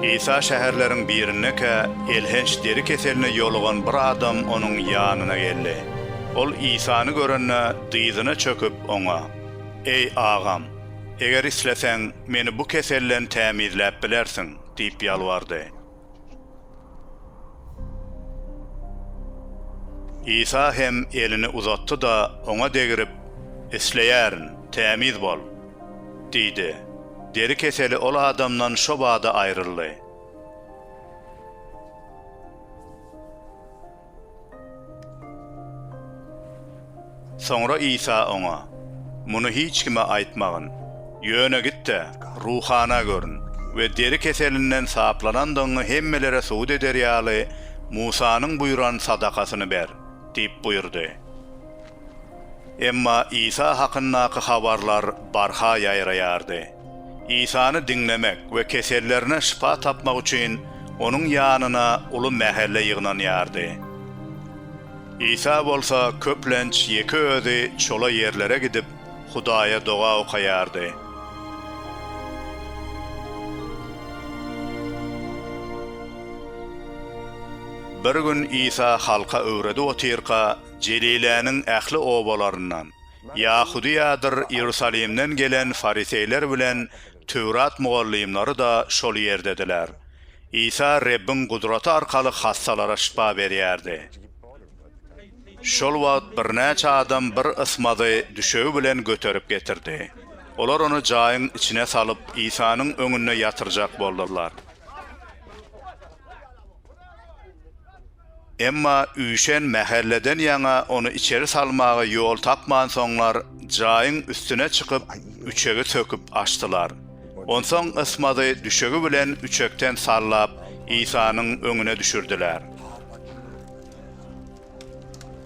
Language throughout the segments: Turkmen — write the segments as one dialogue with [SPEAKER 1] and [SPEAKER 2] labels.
[SPEAKER 1] Isa şäherleriň birinde-kä elhenç deri keseline ýolugan bir adam onuň ýanyna geldi. Ol Isany görende, dyzyna çöküp, oňa, Eý, agam, eger isleseň, meni bu keselden tämizläp bilersiň diýip ýalbardy. Isa hem elini uzatdy-da, oňa degrip, Isleýärin, tämiz bol! diýdi. Deri keseli ol adamdan şo bada aýryldy. Soňra Isa oňa, Muny hiç kime aýtmagyn. Ýöne git-de, ruhana görün we deri keselinden saplanandygyňy hemmelere subut eder ýaly, Musanyň buýran sadakasyny ber diýip buýurdy. Emma Isa hakyndaky habarlar barha ýaýraýardy. Isany diňlemek we kesellerine şypa tapmak üçin Onuň ýanyna uly mähelle ýygnanýardy. Isa bolsa köplenç ýeke özi çola ýerlere gidip, Hudaýa doga okaýardy. Bir gün Isa halka öwredip otyrka, Jeliläniň ähli obalaryndan, Ýahudyýadyr Iýerusalimden gelen fariseýler bilen Töwrat mugallymlary-da şol ýerdediler. Isa Rebbiň gudraty arkaly hassalara şypa berýärdi. Şol wagt birnäçe adam bir ysmazy düşegi bilen göterip getirdi. Olar ony jaýyň içine salyp, Isanyň öňünde ýatyrjak boldular. Emma üýşen mähelleden ýaňa ony içeri salmaga ýol tapmansoňlar, jaýyň üstüne çykyp, üçegi söküp açdylar. Onsoň Ysmaty düşegi bilen üçekden sallap, Isanyň öňüne düşürdiler.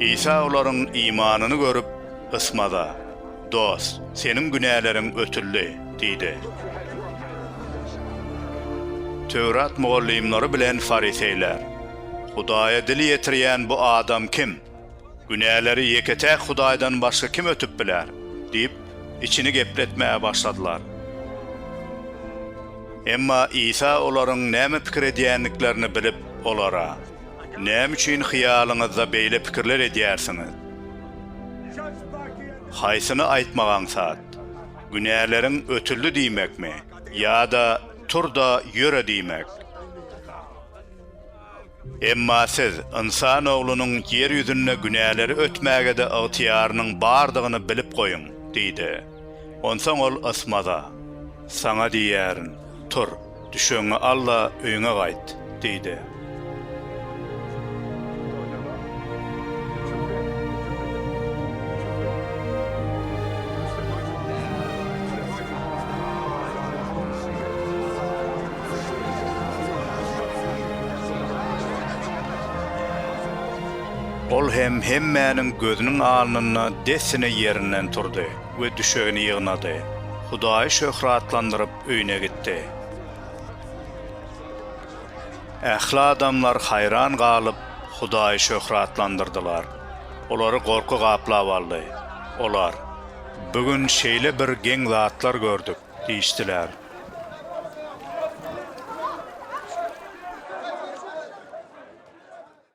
[SPEAKER 1] Isa olaryň imanyny görüp, Ysmaza, Dost, seniň günäleriň ötüldi diýdi. Töwrat mugallymlary bilen fariseýler, Hudaýa dil ýetirýän bu adam kim? Günäleri ýeke-täk Hudaýdan başga kim ötüp biler? diýip, içini gepletmäge başladylar. Emma Isa olaryň näme pikir edýändiklerini bilip, olara, Näme üçin hyýalyňyzda beýle pikirler edýärsiňiz? Haýsyny aýtmak aňsat? Günäleriň ötüldi diýmekmi ýa-da Tur-da, ýöre diýmek? Emma siz Ynsan Oglunyň ýer ýüzünde günäleri ötmäge-de ygtyýarynyň bardygyny bilip goýuň! diýdi. Onsoň ol Ysmaza, Saňa diýýärin, tur, düşegiňi al-da, öýüňe gaýt! diýdi. Ol hem hemmäniň gözüniň alnynda dessine ýerinden turdy we düşegini ýygnady. Hudaýy şöhratlandyryp öýüne gitdi. Ähli adamlar haýran galyp, Hudaýy şöhratlandyrdylar. Olary gorky gaplap aldy. Olar, Bu gün şeýle bir geň zatlar gördük! diýişdiler.